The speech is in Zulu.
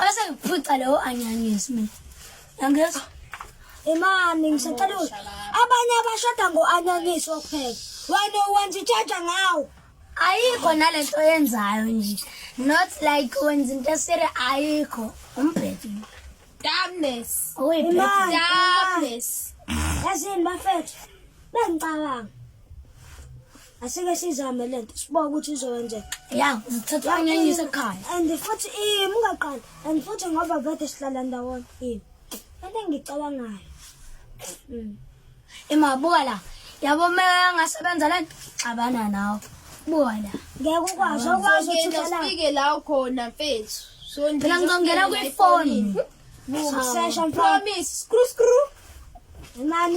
Bese ngiphuca leyo anyanyisi mina. Yangezwa? Imani ngisacela ukuthi abanye abashada ngo-anyanisi wokupheka. Wena wenza itshaja ngawo. Ayikho nalento yenzayo nje. Not like wenza into esire ayikho. Umbhedo. Darkness. Uyibhedo. Darkness. Yazini bafethu. Bengicabanga. asike sizame lento siboke ukuthi izokwenzeka ya uzithatha unyanyise ekhaya and futhi im ungaqali and futhi ngoba vete sihlala ndawonye im into engicabangayo mm. imabuka la yabo uma angasebenza le nto xabana nawe buka la ngeke ukwazi okwazi uthukelaike la ukhona mfethu phela ngizongena kwifoni Promise, screw, screw. Nani